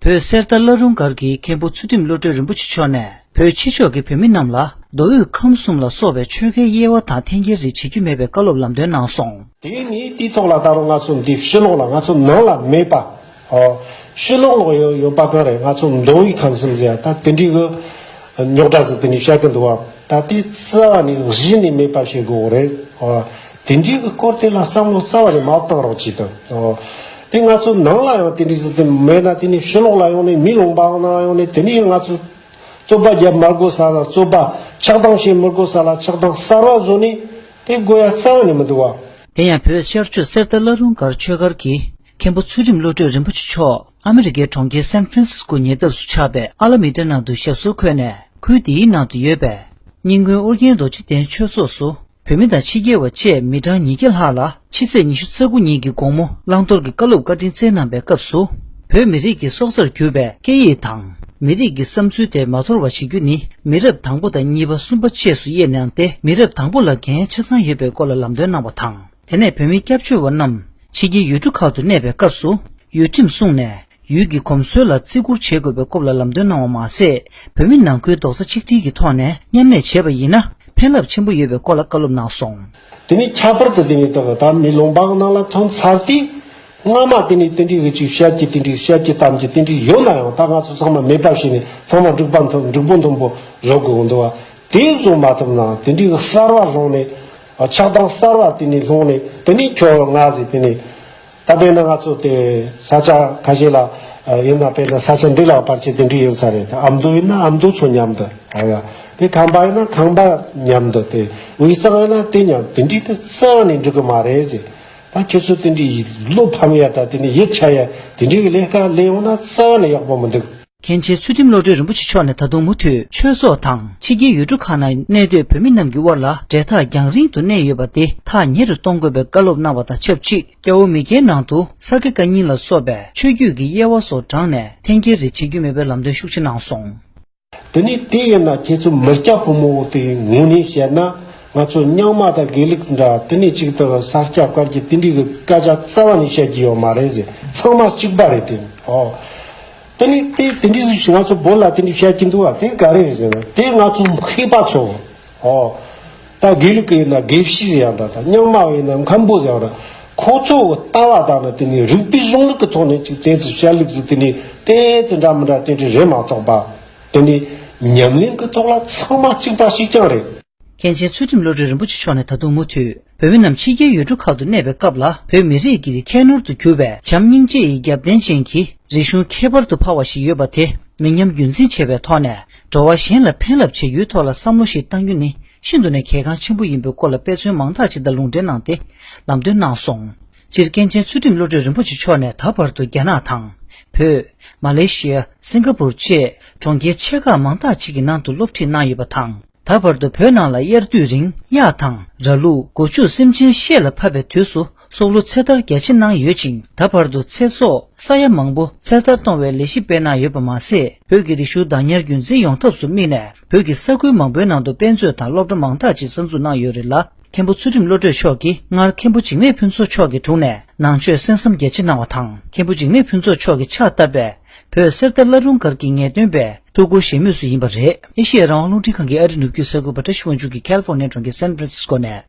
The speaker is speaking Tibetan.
བོད་གསེར་རྟ་བླ་རུང་སྒར་གྱི་མཁན་པོ་ཚུལ་ཁྲིམས་བློ་གྲོས་རིན་པོ་ཆེ་མཆོག་ནས་བོད་ཕྱི་ཕྱོགས་ཀྱི་བོད་མི་རྣམས་ལ་མདོ་དབུས་ཁམས་གསུམ་ལ་སོགས་པའི་ཆོལ་ཁའི་དབྱེ་བ་དང་འཐེན་འཁྱེར་རིགས་བྱེད་རྒྱུ་མེད་པའི་བཀའ་སློབ་ལམ་སྟོན་གནང་སོང། དེ་ནི་དུས་ཐོག་ལ་ད་རུང་ང་ཚོ་འདི་ཕྱི་ལོགས་ལ་ང་ཚོ་ནང་ལ་མེད་པ། ཕྱི་ལོགས་ལ་ཡོད་པ་གང་རེད་ང་ཚོ་མདོ་དབུས་ཁམས་གསུམ་ཟེར་ཡ་ད་དེ་འདྲའི་གི་རྙོག་དྲ་ཟིག་དེ་འདྲའི་བཤད་ཀྱི་འདུག་བ། ད་དེ་རྩ་བ་ནས་གཞི་ནས་མེད་པ་བྱེད་དགོས་རེད། དེ་འདྲའི་གི་སྐོར་དེ་ལ་བསམ་བློ་རྩ་བ་ནས་མ་བཏང་རོགས་གྱིས་དང། དེ་ང་ཚོ་ནང་ལ་ཡང་དེ་འདྲའི་ཟི་ཙི་མེད་ན་དེ་ནས་ཕྱི་ལོག་ལ་ཡོང་ནས་མི་ལོང་པའང་ནང་ཡོང་ནས་དེ་ནས་ང་ཚོ། རྩོད་པ་རྒྱབ་མར་དགོས་ས་ལ་རྩོད་པ། ཆགས་སྡང་བྱེད་མི་དགོས་ས་ལ་ཆགས་སྡང་གསར་བ་བཟོ་ནས། དེ་དགོས་ཡ་རྩ་བ་ནས་མི་འདུག་བ། དེ་ཡང་བོད་ཤར་ཆོས་གསེར་རྟ་བླ་རུང་སྒར་ཆོས་སྒར་གྱི་མཁན་པོ་ཚུལ་ཁྲིམས་བློ་གྲོས་རིན་པོ་ཆེ་མཆོག་ཨ་མི་རི་ཀའི་གྲོང་ཁྱེར San Francisco ཉེ་འདབས་སུ་ཆགས་པའི་ཨ་ལ་མི་ཏྲ་ནང་དུ་ཞབས་སོར་འཁོད་ནས་ཁུལ་དེའི་ནང་དུ་ཡོད་པའི། རྙིང་དགོན་ཨོ་རྒྱན་རྡོ་རྗེ་གདན་ཆོས་ཚོགས་སུ་བོད་མི་དང་ཕྱི་རྒྱལ་བ་བཅས་མི་གྲངས་ཉིས་བརྒྱ་ལྷག་ལ་ཕྱི་ཚེས་ཉི་ཤུ་རྩ་དགུ་ཉིན་གྱི་དགོང་མོ་བླང་དོར་གྱི་བཀའ་སློབ་བཀའ་དྲིན་སྩལ་གནང་བའི་སྐབས་སུ། བོད་མི་རིགས་ཀྱི་སྲོག་རྩར་གྱུར་པའི་སྐད་ཡིག་དང་མི་རིགས་ཀྱི་བསམ་ཚུལ་དེ་མ་དོར་བ་བྱེད་རྒྱུ་ནི་མི་རབས་དང་པོ་དང་གཉིས་པ་གསུམ་པ་བཅས་སུ་དབྱེ་ནའང་སྟེ་མི་རབས་དང་པོ་ལ་འགན་ཆ་ཚང་ཡོད་པའི་སྐོར་ལ་ལམ་སྟོན་གནང་བ་དང་དེ་ནས་བོད་མི་སྐྱབས་བཅོལ་བ་རྣམས་ཕྱི་རྒྱལ་ཡུལ་གྲུ་ཁག་ཏུ་གནས་པའི་སྐབས་སུ་ཡུལ་ཁྲིམས་བསྲུངས་ནས་ཡུལ་གྱི་གོམས་སྲོལ་ལ་བརྩི་བཀུར་བྱེད་དགོས་པའི་སྐོབ་ལ་ལམ་སྟོན་གནང་བ་མ་ཟད་བོད་མི་ནང་ཁུལ་རྡོག་རྩ་ཆིག་སྒྲིལ་གྱི་ཐོག་ནས་མཉམ་གནས་བྱེད་པ་ཡིན་ན་ཕན་རླབས་ཆེན་པོ་ཡོད་པའི་སྐོར་ལ་བཀའ་སློབ་གནང་སོང། དེ་ནས་ཁྱད་པར་དུ་དེ་ནས་དག་ད་མི་ལོང་པའང་སྣང་ལ་ཐོན་ཚར་ཏེ། སྔ་མ་དེ་ནས་ཏིན་ཏིག་འི་ཅིག་ཤད་ཀྱི་ཏིན་ཏིག་ཤད་ཀྱི་གཏམ་གྱི་ཏིན་ཏིག་ཡོད་ན་ཡང་ད་ང་ཚོ་ཚང་མ་མེད་པར་བྱས་ནས་ཚང་མ་འབྲུག་པ་འཐོམ་འབྲུག་པོ་འཐོམ་པོ་རོགས་དགོས་འདུག་བ། དེ་བཟོ་མ་ཐུབ་ན་ཏིན་ཏིག་གསར་བ་བཟུང་ནས། ཆགས་སྡང་གསར་བ་དེ་ནས་ལྷུང་ནས་དེ་ནས་ཁྱོད་ང་ཟེར་དེ་ནས། ད་དཔེར་ན་ང་ཚོ་དེ་ས་ཆ་ཁ་ཤས་ལ་ཡོད་ན་དཔེར་ན་ས་ཆ་འདི་ལ་བར་ཆད་དེ་འདྲས་ཡོད་ས་རེད་དེ་ཨ་མདོ་ཡིན་ན་ཨ་མདོ་ཚོ་མཉམ་དུ་ཨ་ཡ། དེ་ཁམས་པ་ཡིན་ན་ཁམས་པ་མཉམ་དུ་དེ་དབུས་གཙང་ཡིན་ན་དེ་མཉམ་དེ་འདྲས་དུ་བརྩེ་བ་ནས་འགྲིག་གི་མ་རེད་ཟེར། ད་ཁྱོད་ཚོ་དེ་འདྲས་བློ་ཕམ་ཡ་དང་དེ་ནས་ཡིད་ཆད་ཡ་དེ་འདྲས་ཀྱི་ལས་ཀ་ལས་ཡོང་ན་བརྩེ་བ་ལས་ཡག་པོ་མི་འདུག། མཁན་ཆེན་ཚུལ་ཁྲིམས་བློ་གྲོས་རིན་པོ་ཆེ་མཆོག་ནས་ད་དུང་མུ་མཐུད་ཆོས་ཚོགས་དང་ཕྱི་རྒྱལ་ཡུལ་གྲུ་ཁག་ན་གནས་སྡོད་བོད་མི་རྣམས་ཀྱི་དབར་ལ་འབྲེལ་ཐག་རྒྱང་རིང་དུ་གནས་ཡོད་པ་དེ་ཐག་ཉེ་རུ་གཏོང་དགོས་པའི་བཀའ་སློབ་གནང་བ་དང་ཆབས་ཅིག་སྐྱ་བོ་མི་སྐྱའི་ནང་དུ་ས་དགེ་བཀའ་རྙིང་ལ་སོགས་པའི་ཆོས་བརྒྱུད་ཀྱི་དབྱེ་བ་སོགས་བགྲངས་ནས་འཐེན་འཁྱེར་རེ་བྱེད་རྒྱུ་མེད་པའི་ལམ་སྟོན་ཤུགས་ཆེ་གནང་སོང། དེ་ནས་དེ་ཡིན་ན་ཁྱེད་ཚོ་མི་སྐྱ་ཕོ་མོ་དེ་ངོ་ནས་བཤད་ན་ང་ཚོ་རྙིང་མ་དང་དགེ་ལུགས་འདྲ་དེ་ནས་གཅིག་ཏུ་ས་སྐྱ་བཀར་གྱི་དེ་འདྲའི་གི་སྐད་ཆ་རྩ་བ་ནས་བཤད་ཀྱི་ཡོད་མ་རེད་ཟེར་ཚང་མ་གཅིག་པ་རེད་དེ། དེ་ནི་དེ་དེ་འདྲའི་ཞིག་ང་ཚོ་བོད་ལ་དེ་འདྲའི་བཤད་ཀྱིན་འདུག་བ་དེ་ག་རེ་ཟེར་ན་དེ་ང་ཚོ་མཁས་པ་ཚོ་ཨོ། ད་དགེ་ལུགས་ཀྱི་ཡིན་ན་དགེ་བཤེས་ཡང་དག་དང་རྙིང་མ་བ་ཡིན་ན་མཁན་པོ་ཡང་དག་ཁོ་ཚོ་ལྟ་བ་དག་ནི་དེ་ནི་རིགས་པའི་གཞུང་ལུགས་ཀྱི་ཐོག་ནས་ཅིག་དེ་ཚོ་བཤད་ལུགས་ཚོ་དེ་ནི་དེ་ཚོ་འདྲ་མི་འདྲ་དེ་འདྲ་རེད་མ་གཏོགས་པ། དེ་ནི་ཉམས་ལེན་གྱི་ཐོག་ལ་ཚང་མ་གཅིག་པ་ཞིག་ཀྱང་རེད། མཁན་ཆེན་ཚུལ་ཁྲིམས་བློ་གྲོས་རིན་པོ་ཆེ་མཆོག་ནས་ད་དུང་མུ་མཐུད་བོད་མི་རྣམས་ཕྱི་རྒྱལ་ཡུལ་གྲུ་ཁག་ཏུ་གནས་པའི་སྐབས་ལ་བོད་མི་རིགས་ཀྱི་ཁྱད་ནོར་དུ་གྱུར་པའི་བྱམས་སྙིང་རྗེ་ཡི་རྒྱབ་རྟེན་ཅན་གྱི་རིག་གཞུང་ཁྱད་པར་དུ་འཕགས་བ་ཞིག་ཡོད་པ་དེ་མི་ཉམས་རྒྱུན་འཛིན་བྱེད་པའི་ཐོག་ནས་འགྲོ་བ་གཞན་ལ་ཕན་རླབས་ཆེ་ཡོད་ཐོག་ལ་བསམ་བློ་ཞིག་གཏང་རྒྱུ་ནི་ཤིན་ཏུ་ནས་གལ་འགངས་ཆེན་པོ་ཡིན་པའི་སྐོར་ལ་དཔེ་མཚོན་མང་དག་ཅིག་དང་ལུང་འདྲེན་གནང་སྟེ་ལམ་སྟོན་གནང་སོང། སྤྱིར་མཁན་ཆེན་ཚུལ་ཁྲིམས་བློ་གྲོས་རིན་པོ་ཆེ་མཆོག་ནས་ད་བར་དུ་རྒྱ་ནག་དང། བོད། མ་ལེ་ཤི་ཡ། སིང་ག་པུར་བཅས་གྲོང་ཁྱེར་ཆེ་ཁག་མང་དག་ཅིག་གི་ནང་དུ་སློབ་ཁྲིད་གནང་ཡོད་པ་དང། ད་བར་དུ་བོད་ནང་ལ་དབྱར་དུས་རིང་གཡག་དང་ར་ལུག་སྒོ་ཕྱུགས་སེམས་ཅན་ཤེད་ལ་ཕབ་པའི་དུས་སུ་སྲོག་བླུ་ཚེ་ཐར་རྒྱ་ཆེ་གནང་ཡོད་ཅིང་ད་བར་དུ་ཚེ་སྲོག་ས་ཡ་མང་པོ་ཚེ་ཐར་གཏོང་བའི་ལས་གཞི་སྤེལ་གནང་ཡོད་པ་མ་ཟད། བོད་ཀྱི་རིག་གཞུང་བདག་ཉར་རྒྱུན་འཛིན་ཡོང་ཐབས་སུ་དམིགས་ནས་བོད་ཀྱི་ས་ཁུལ་མང་པོའི་ནང་དུ་དཔེ་མཛོད་དང་སློབ་གྲྭ་མང་དག་ཅིག་གསར་འཛུགས་གནང་ཡོད་རེད་ལ་མཁན་པོ་ཚུལ་ཁྲིམས་བློ་གྲོས་མཆོག་གིས་སྔར་མཁན་པོ་འཇིགས་མེད་ཕུན་ཚོགས་མཆོག་གི་དྲུང་ནས་ནང་ཆོས་གསན་བསམ་རྒྱ་ཆེ་གནང་བ་དང་མཁན་པོ་འཇིགས་མེད་ཕུན་ཚོགས་མཆོག་གིས་ཕྱག་བཏབ་པའི། བོད་གསེར་རྟ་བླ་རུང་སྒར་གྱི་ངེས་སྟོན་པས་ཐུགས་ཁུར་བཞེས་མུས་སུ་ཡིན་པ་རེད། ཨེ་ཤི་ཡའི་རང་དབང་རླུང་འཕྲིན་ཁང་གི་ཨ་རི་ནུབ་རྒྱུད་ས་ཁུལ་བཀྲ་ཤིས་དབང་ཕྱུག་གིས་ཀལ་ཧྥོར་ནེ་གྲོང་ཁྱེར San Francisco ནས།